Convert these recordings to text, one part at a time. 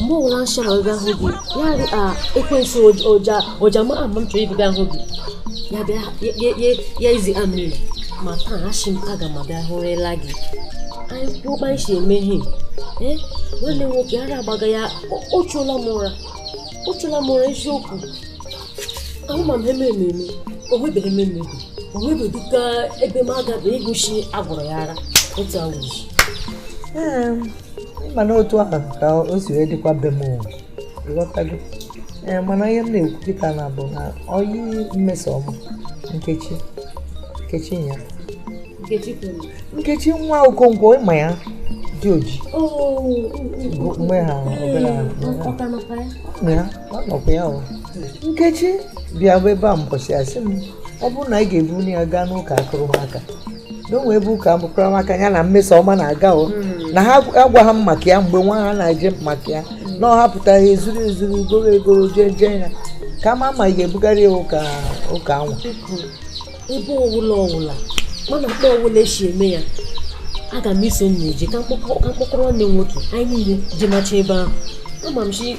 mgbe ọbụla m chọrọ ịga hụ gị ya dị ka ekwensu ụja ụja ma ama m chọrọ ịbịa hụ gị ya bịa ya izi a mmiri ma taa asị m aga m abịa hụrịla gị anyị kwuo kpa esi eme ihe ee nwanne m nwoke ara agbaga ya ọ chụla m ụra ọ chụla m ụra eziokwu ahụ ma m eme ememe o nwebeghị eme ememe o nwebeghị ka ebe m agabeghị ịgụchi agwụrụ ya ara otu awụzi mana otu ahụ ka o si wee dịkwa be m ị ghọtago ee mana ihe m na-ekwu kịta na bụ na ọyị mmesoma nkechi nkechi ya nkechi nwa okonkwo ị ma ya dị oji mgbe ha obere ha ya ọ nọkwa ya ọ nkechi bịabu ebe a mbọchị a sị m ọ bụrụ na ị ga-ebuli ya gaa n'ụka akụrụmaka na o nwe ebe ụka mụkwara maka ya na mmesoma na-aga o hmm. na ha agwa ha maka ya mgbe nwa ha na-eje maka ya hmm. na ọ hapụta ya ezuru ezuru goro egoro jee jee ya kama ma ị ga-ebugharị ya ụka ụka anwa ebe ọwụla ọwụla mana kpa ọwụla esi eme ya aga m iso unu eje ka m kpọkọrọ nne nwoke anyị niile jemacha ebe ahụ ama m sị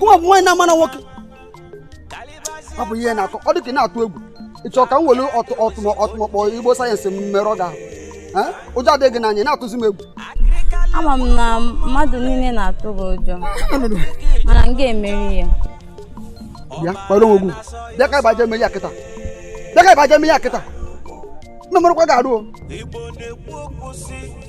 gụwa bụ nwaanyị na-amara nwoke ọ bụ ihe na-akọ ọ dị ka ị na-atụ egwu ị chọrọ ka m were ọtụmọkpọ igbo sayensị merụọ gị ahụ Eh? ụjọ adịghị gị n'anya na-atụzi m egwu ama m na mmadụ niile na-atụ gị ụjọ mana m ga-emeri ya bịa kpọrọ onwe gị bịa ka ị baje eme ya kịta bịa ka ị baje eme ya kịta m emerụkwa gị arụ o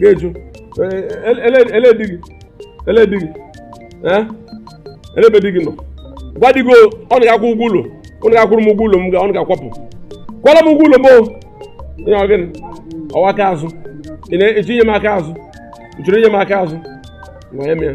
ga-eju ele di gị ele di gị elebe di gị nọ gwa di gị unu ga-akwụ ụgwọ ụlọ unu ga-akwụrụ m ụgwọ ụlọ m unu ga-akwapụ kwala m ụgwọ ụlọ m ihe ọ gịnị ọ wụ aka azụ ị na-etinye m aka azụ ị chọrọ inye m aka azụ ma ya mee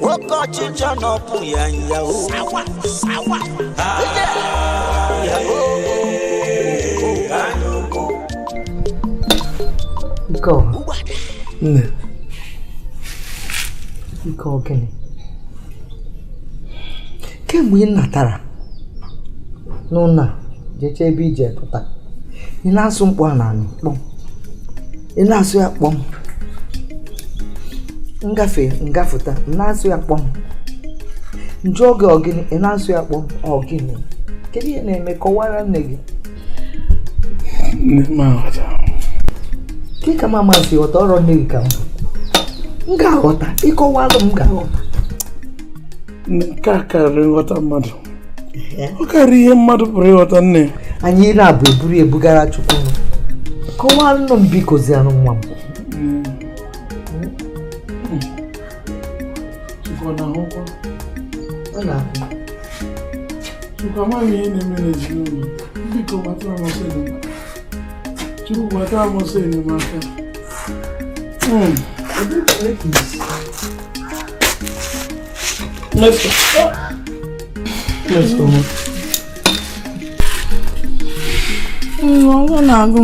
nwoke ọchịchọ na ọpụ ya nyawo nke ọ nne nke ọ gịnị kemgbe ị natara n'ụlọ a jecha ebe i je pụta ị na-asụ mkpọ a n'anị kpọm ị na-asụ ya kpọm m gafe m gafụta ị na-asụ ya kpọm m jụọ gị ọ gịnị ị na-asụ ya kpọm ọ gịnị kedu ihe na-eme kọwara nne gị ka ma masị ghọta ọrụ nne gị ka m ga-aghọta ị kọwalụ m ga-aghọta nke a karịrị nghọta mmadụ ọ karịrị ihe mmadụ pụrụ ịghọta nne anyị ị na-abụ eburu ebugara chukwu kọwaanụ m biko zianụ nwa m Chukwu amaghị ihe na-eme n'ezinụlọ biko gbata m ọsọ enyemaka Chukwu gbata m ọsọ enyemaka Hmm. agụụ na-agụ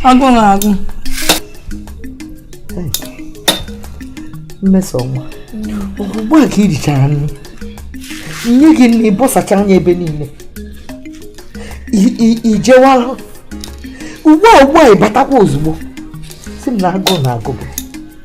agụụ na-agụ mmesoma ugbu a ka i richara nri nye gị nri bọsacha anya ebe niile i jewala ugbu a ugbu a ị batakwa ozugbo sị m na agụụ na-agụ gị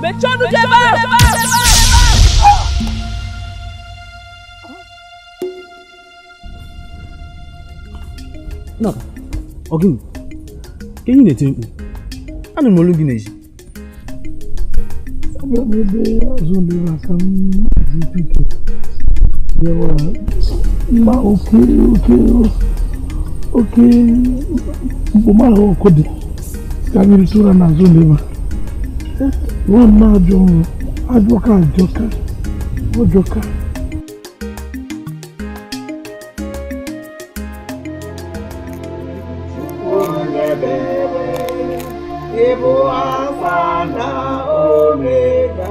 mechie ọnụ gị ebe ahụ Nna, ọ gịnị ka i ji na-eti mkpu. Anụ m olu gị n'ezi. Aga m ebe azụ ndị maka m ji biko nyewa mma oke oke oke mkpụma ahụ ọkụ dị ka mmiri tụra n'azụ n'ebe nwa m ajọ ọrụ ajọka ajọka ọ jọka Ị bụ Alfa na Omega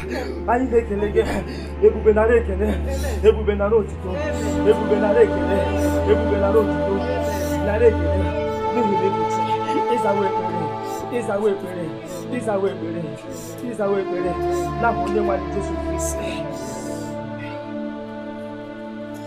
anyị na-ekele gị ebube nara ekele ebube nara otito ebube nara ekele ebube nara otito nara ekele n'ihi na ebuchi ịzawa ekpere ịzawa ekpere ịzawa ekpere ịzawa ekpere na onye nwanyị Jesu Kristi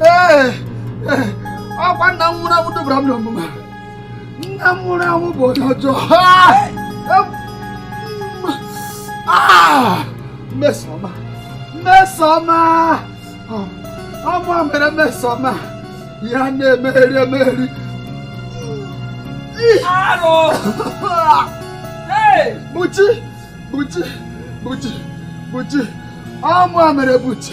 ee ọ kwa nna m nwụrụ anwụ dubara m n'ọnwụnwa nna m nwụrụ anwụ bụ onye ọjọọ mmesoma mmesoma ọ mụa mere mmesoma ya na-emeri emeri Arụ! Hey! Buchi! Buchi! Buchi! Buchi! Ọ mụa mere Buchi!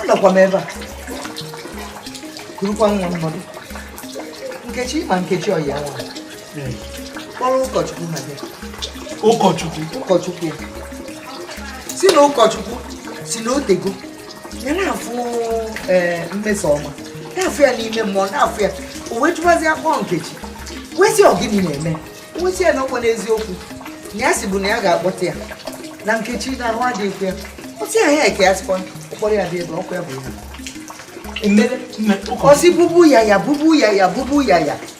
anọkwa m ebe a kurukwa nwa mmadụ nkechi ma nkechi ọ ya nwa kpọrọ ụkọchukwu na bịa ụkọchukwu ụkọchukwu sị na ụkọchukwu sị na o tego ya na-afụ ee mmeso ọma na-afụ ya n'ime mmụọ na-afụ ya o wee jụbazi akpọ nkechi wee sị ọ gịnị na-eme wee sị ya na ọkwa n'eziokwu na ya si bụ na ya ga-akpọta ya na nkechi na ahụ adịghịkwa ya ọ sị ya ya eke ya sịkwa ụkpọrọ ya dị ebe ọkwa ya bụ ya emere ọ sị bubu ya ya bubu ya ya bubu ya ya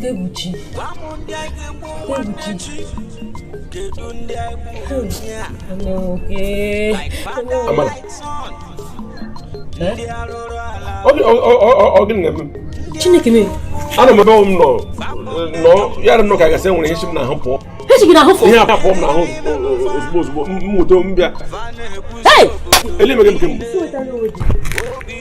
Debuchi. Debuchi. Ọmọ òkè. Amala. Ọ gịnị na-eme? Chineke mee. Anọ m ebe m nọ nọ ya na m nọ ka a ga-asị e nwere ihe si m n'ahụ pụọ. Ihe si gị n'ahụ pụọ? Ihe a pụọ m n'ahụ ozugbo ozugbo m nweta m bịa. Ele emeghe m kemgbe.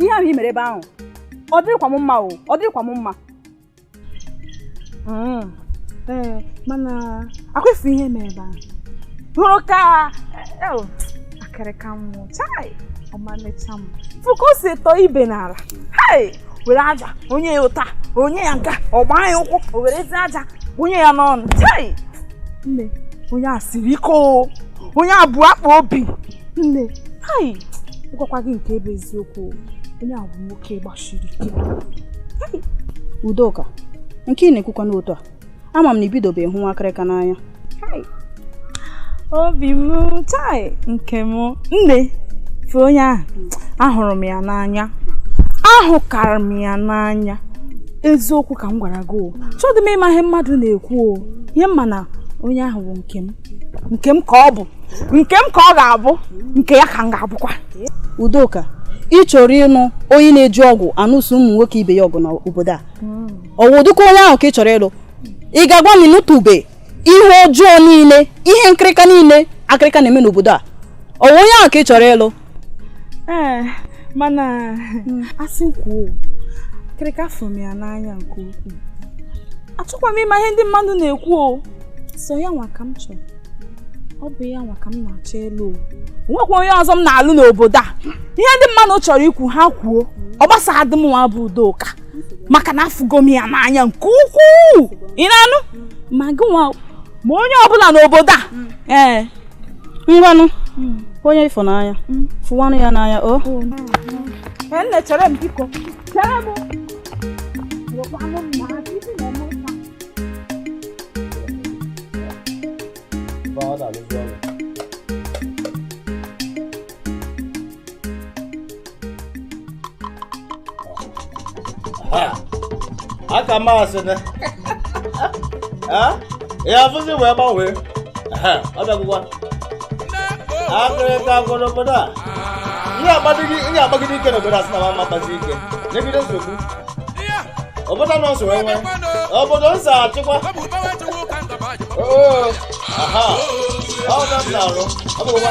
ihe ahụ i mere ebe ahụ ọ dịrịkwa m mma o ọ dịrịkwa m mma mm. ee mana ọkwa ị fụ ihe mere ebe ahụ hụrụ ka akịrịka mụ chai ọmalịcha m fụ ka o si tọọ ibe n'ala hai were aja o nye ya ụta o nye ya nka ọ gbaa ya ụkwụ o werezi aja wụnye ya n'ọnụ chai nne onye a siri ike o onye a bụ akpa obi nne hai gwakwa gị nke bụ eziokwu onye ahụ bụ nwoke gbasiri ike udoka nke ị na-ekwukwanụ otu a ama m na i bidobe hụwa akịrịka n'anya obi m chai nke m nne fụ onye ahụ ahụrụ m ya n'anya ahụkara m ya n'anya eziokwu ka m gwara gị o achọdị m ịma ihe mmadụ na-ekwu o ihe m ma na onye ahụ bụ nke m nke m ka ọ bụ nke m ka ọ ga-abụ nke ya ka m ga-abụkwa udoka ị chọrọ ịlụ onye na-eji ọgwụ anụso ụmụ nwoke ibe ya ọgụ n'obodo a ọ wụ ụdịka onye ahụ ka ị chọrọ ịlụ ị ga-agwa m ị nụtụbe ihe ọjọọ niile ihe nkịrịka niile akịrịka na-eme n'obodo a ọ wụ onye ahụ ka ị chọrọ ịlụ ee eh, mana hmm. a sị kwuo akịrịka fụrụ m ya n'anya nke ukwuu achọkwa m ịma ihe ndị mmadụ na-ekwu o so ya nwa ka m chọrọ ọ bụ ya nwa ka m na-achọ ịlụ o nwekwa onye ọzọ m na-alụ n'obodo a ihe ndị mmadụ chọrọ ikwu ha kwuo ọ gbasaghị dị m nwa bụ Udoka maka na afụgo m ya n'anya nke ukwuu ị na-anụ ma gị nwa ma onye ọbụla n'obodo a mm. ee eh, ngwanụ mm. onye ị fụ n'anya mm. fụwanụ ya n'anya o oh. oh, nne chere m biko chere m Father, aka masị na ya afụzi wee gbanwee ọ bịagwụkwa akịrịka gwụ n'obodo a ihe akpagide ike n'obodo a sị na ma m akpazi ike n'obodo nsogbu obodo nọ nsogbu enwe obodo nsọ achịkwa oo aha ọ na m na-arụ ọ bụgwụkwa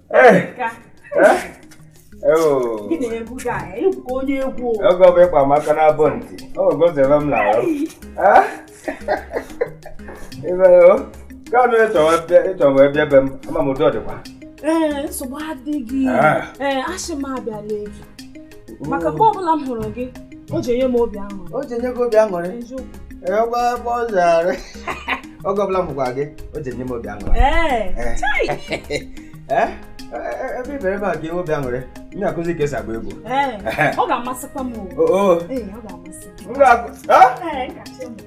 ọgọ m ịkpa maka na abụ ntị ogozere m n'ahụ kanụ ị chọ wee bịa be m ama m udo ọ dịkwa nsogbu adịghị asị m abịa lee gị maka mgbe ọbụla m hụrụ gị o ji enye m obi aṅụrị o ji enye gị obi aṅụrị egbe egbe ọ zara oge ọbụla m hụkwa gị o ji enye m obi aṅụrị ebe ibere ebe a gị obi aṅụrị m ga-akụzi ka e si agba egwu ọ ga-amasịkwa m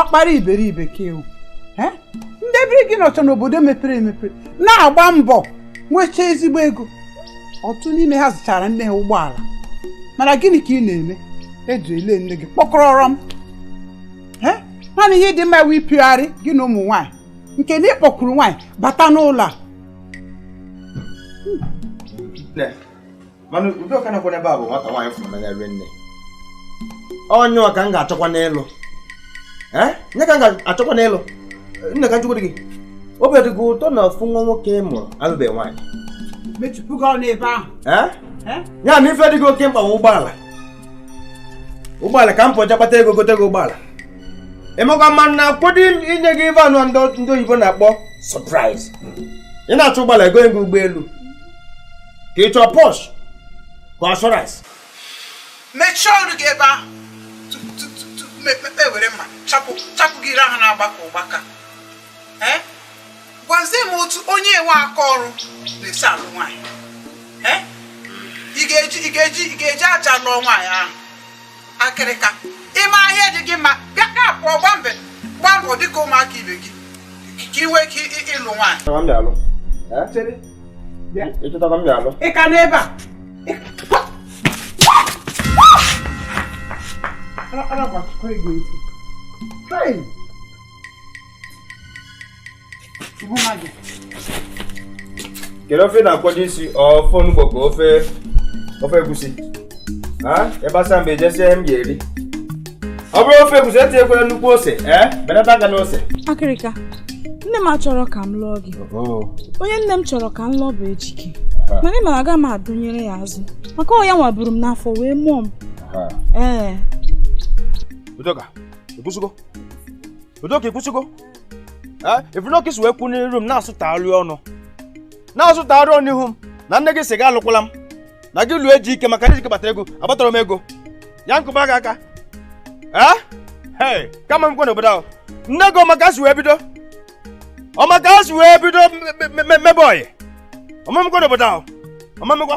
ọkpara iberibe ka ị wụ ndị ebiri gị nọcha n'obodo mepere emepe na-agba mbọ nwechaa ezigbo ego ọtụtụ n'ime ha zụchaara nne ha ụgbọala mana gịnị ka ị na-eme eji ele nne gị kpọkọrọrọm naanị ihe dị mma wụ ịpịgharị gị na ụmụ nwaanyị nke na ị kpọkuru nwaanyị bata n'ụlọ a onye ka m ga-achọkwa n'elu onye ka m ga-achọkwa n'elu nne ka m jụkwa gị obi ọ dị gị ụtọ na ofu nwa nwoke ị mụrụ alụbeghị nwaanyị ya na ife dị gị oke mkpa ụgbọala ụgbọala ka m pụ je kpata ego gote gị ụgbọala ị makwa ma m na-akwado inye gị ive anwa ndị oyibo na-akpọ surprise ị na-achọ ụgbọala e gonye gị ụgbọelu ka ị chọọ Porsche ka assurance mechie ọnụ gị ebe ahụ tupu m ewere mma chapụ gị ire ahụ na-agbaka ụgbaka gwazie m otu onye enwe aka ọrụ na-esi alụ nwaanyị ị ga-eji ị ga-eji ị ga-eji aja lụọ nwaanyị ahụ akịrịka ị ma ihe dị gị mma bịa ka pụọ gba mbọ gba mbọ dịka ụmụaka ibe gị ka ị nwee ike ịlụ nwaanyị ị ka nọ ebe a Hey! kedu ofe na-akwado isi ofe onugbu ka ofe ofe egusi ebe asa mgbe ejesie m ga-eri ọ bụrụ ofe egusi etinyekwara nnukwu ose ee belata aka na ose akịrịka nne m achọrọ ka m lụọ gị onye nne m chọrọ ka m lụọ bụ ejike mana ị mara aga m adụnyere ya azụ maka ọ ya nwa buru m n'afọ wee mụọ m ee udoka ikwusigo Udoka ikwusigo ị fụnụ ka i si wee kwụ n'iru m na-asụtagharị ọnụ na-asụtagharị ọnụ ihu m na nne gị sị gị alụkwala m na gị lụọ ejike maka na ejike kpatara ego akpatarọ m ego ya m kụba gị aka ee kama m gwa n'obodo ahụ nne gị ọ ma ka e si wee bido ọ ma ka e si wee bido mebe ọyị ọ ma emekwa n'obodo ahụ ọ ma emekwa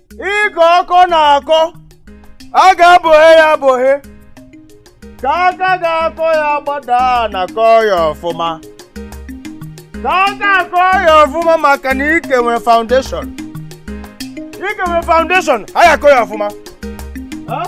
ike ọkọ na-akọ a ga-abọhe ya abọhe ka aka ga-akọ ya gbada na-akọ ya ọfụma ka aka akọ ya ọfụma maka na ike nwere foundation ike nwere foundation a ya akọ ya ọfụma Huh?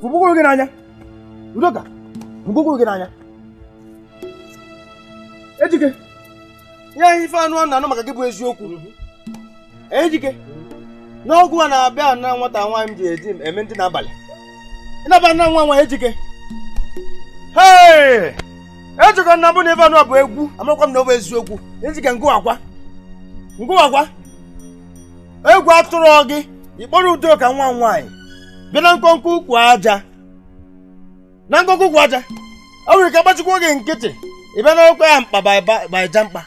fụbụkwuru gị n'anya udoka fụbụkwuru gị n'anya ejike ihe anyị ife anụ na-anụ maka gị bụ eziokwu ejike na ọ gụwa na-abịa na nwata nwaanyị m ji eji eme ndị n'abalị ịnaba na nwa nwa ejike hei ejike ọ na-abụ na ife a nụ bụ egwu amakwa m na ọ bụ eziokwu ejike ngụwakwa ngụwakwa egwu atụrọ gị ịkpọrọ udoka nwa nwaanyị bịa na nkọnkọ ukwu aja na nkọnkọ ukwu aja o nwere ka agbachikwa gị nkịtị ịbịa n'okwe ya mkpa baija mkpa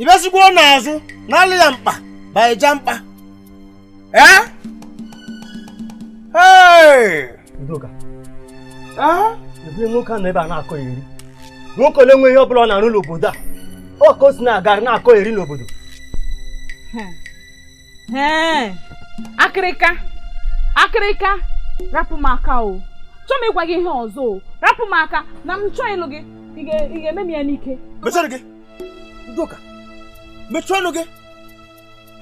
ịbịasikwa n'azụ n'ala ya mkpa baija mkpa ee Hey! Udoka ebe nwoke a nọ ebe a na-akọeri nwoke ole nwe ihe ọ bụla ọ na-arụ n'obodo a ọ ka o si na-agara na-akọeri n'obodo Ee, akịrịka akịrịka rapụ m aka achọọ m ịgwa gị ihe ọzọ o rapụ m aka na m achọọ ịlụ gị ị ga- ị ga-eme m ya n'ike mechie ọnụ gị Udoka mechie ọnụ gị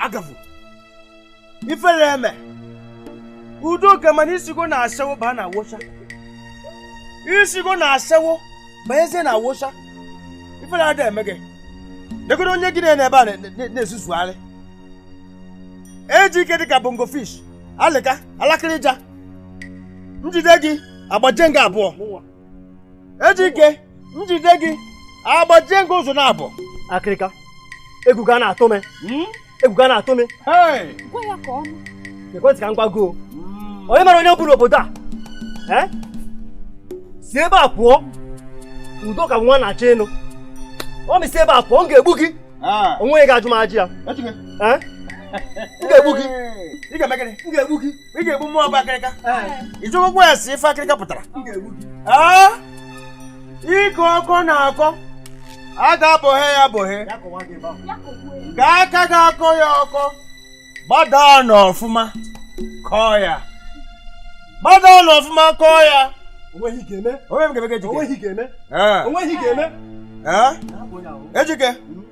agavụ ifere eme udoka mana isigo na-asawo ba na awụsa isigo na-asawo banyezie na awụsa ifere ada eme gị negodu onye gị na ya nọ ebe a na-ezuzugharị ejike dịka bongo fish alịka alakịrịja m jide gị agbajie m gị abụọ ejike m jide gị agbajie m gị ụzọ na abụọ akịrịka egwu gị a na-atụ m hmm? egwu gị ana-atụ m ekwentị ka m gwago mm. onye mara onye m bụ n'obodo a eh? si ebe a pụọ Udoka bụ nwa na-achọ ịnụ ọ mị si ebe a pụọ m ga-egbu gị ah. onweghị onye ga-ajụ m ajị ya eh? m ga-egbu gị m ga-egbu gị ị ga-egbu mụ bụ akịrịka ị jụgokwa ese ife akịrịka pụtara Ee, ike ọkọ na-akọ a ga-abọhe ya abọhe ka aka ga-akọ ya ọkọ gbadaa n'ọfụma kọọ ya gbadaa n'ọfụma kọọ ya onweghị ihe ị ga-eme onwe m ga-eme ka Ejike onweghị ihe ị ga-eme Ee, onweghị ihe ị ga-eme ee, Ejike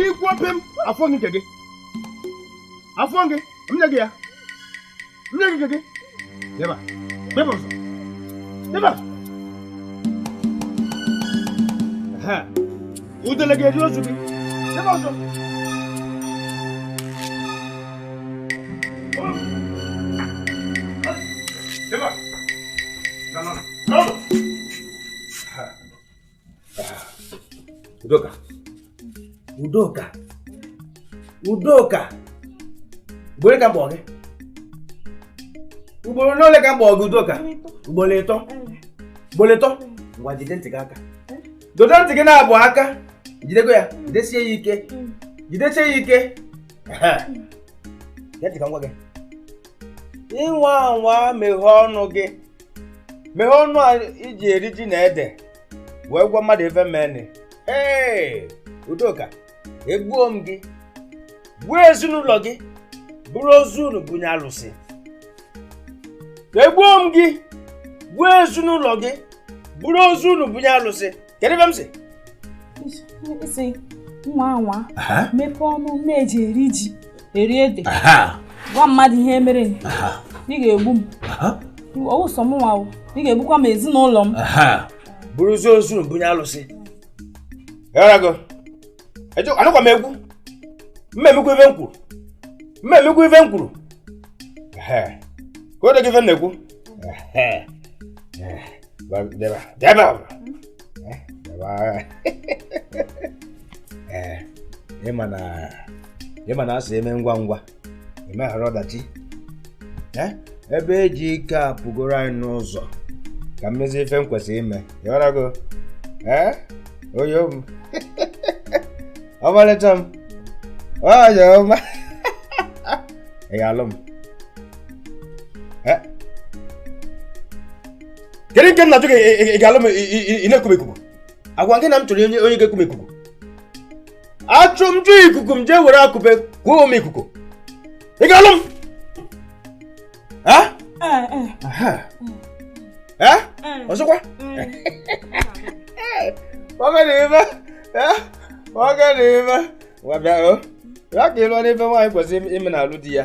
ikwu ope m afọ gị nke gị afọ gị m nye gị ya m nye gị nke gị deba deba ọzọ deba udele ga-eri ozu gị deba ọzọ Udoka. Udoka. Udoka. Ugboro ole ka m kpọ gị. Ugboro n'ole ka m kpọ gị Udoka. Ugboro ịtọ. Ugboro ịtọ. Ngwa jide ntị gị aka. Dodo ntị gị naabọ aka. Jidego ya. Jidesie ya ike. Jidesie ya ike. Gee ntị ka m gwa gị. Ị nwaa anwa meghee ọnụ gị. meghee ọnụ a i ji eri ji na ede wee gwa mmadụ ife merenụ ee Udoka egbuo m gị gbuo ezinụlọ gị buru ozu unu bunye alụsị egbuo m gị gbuo ezinụlọ gị buru ozu unu bunye alụsị kedu ife m sị ị sị m nwaa anwa mepee ọnụ m ji eri ji eri ede gwa mmadụ ihe merenụ ị ga-egbu m ọwụ sọ mụ nwa ị ga-egbukwa m ezinụlọ m buruzie ozu bunye alụsị anụkwa m egwu mma emekwa ife m kwuru mma emekwa ife m kwuru ịghọtago ife m na-ekwu deba deba deba ee ịma na ịma na a sị eme ngwa ngwa emeghara ọdachi ebe Ejike apụgoro anyị n'ụzọ ka m mezie ife m kwesịrị ime ịghọtago ee onye m ọmalịcha m onye ọma ị ga-alụ m kedu nke m na-ajụ gị ị ga-alụ m ị na-eku m ikuku agwa gị na m chọrọ onye onye ga-eku m ikuku achụ m jụ ikuku m jee were akụpe kuo m ikuku ị ga-alụ m ọzọkwa nwoke na ibe nwoke na ibe ngwa bịa o ya ka ịlụọ ife nwaanyị kwesịrị ime na-alụ di ya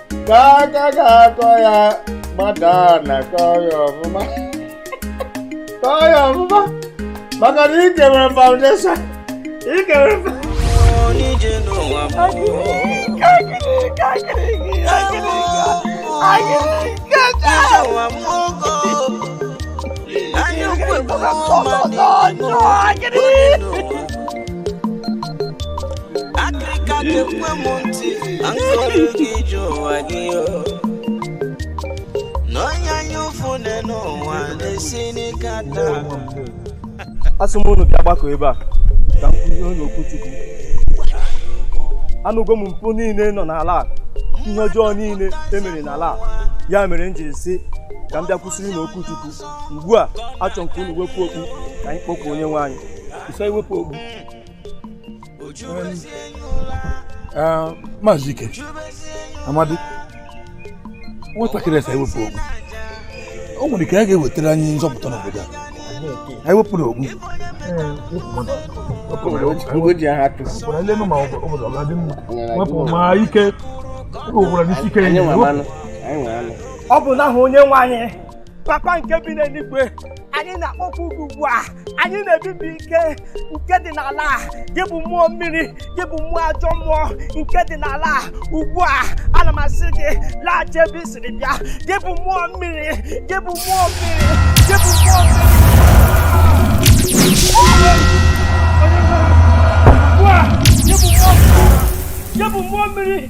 ka aka ga-akọ ya mmadụ a na-akọ ya ọfụma kọọ ya ọfụma maka na ikere foundation ikere foundation asị m unu bịa gbakọ ebe a ka m kuzie unu okwuchukwu anụgo m mpụ niile nọ n'ala a ihe ọjọọ niile emere n'ala a ya mere m jiri sị ka m bịa kuziere unu okwuchukwu ugbu a achọ m ka unu wepụ okpu ka anyị kpọkuo onye nwe anyị ife iwepụ okpu Ah, maazị ike amadi nwatakịrị a sị ewepụ okpu o nwere ike ya ga-ewetara anyị nzọpụta n'obodo a anyị wepụrụ okpu ọ bụ n'aha onye nwe anyị papa nke bi n'eluigwe anyị na-akpọku gị ugbu a anyị na-ebibi ike nke dị n'ala a gị bụ mmụọ mmiri gị bụ mmụọ ajọ mmụọ nke dị n'ala a ugbu a ana m asị gị laghachi ebe i siri bịa gị bụ mmụọ mmiri gị bụ mmụọ mmiri gị bụ mmụọ mmiri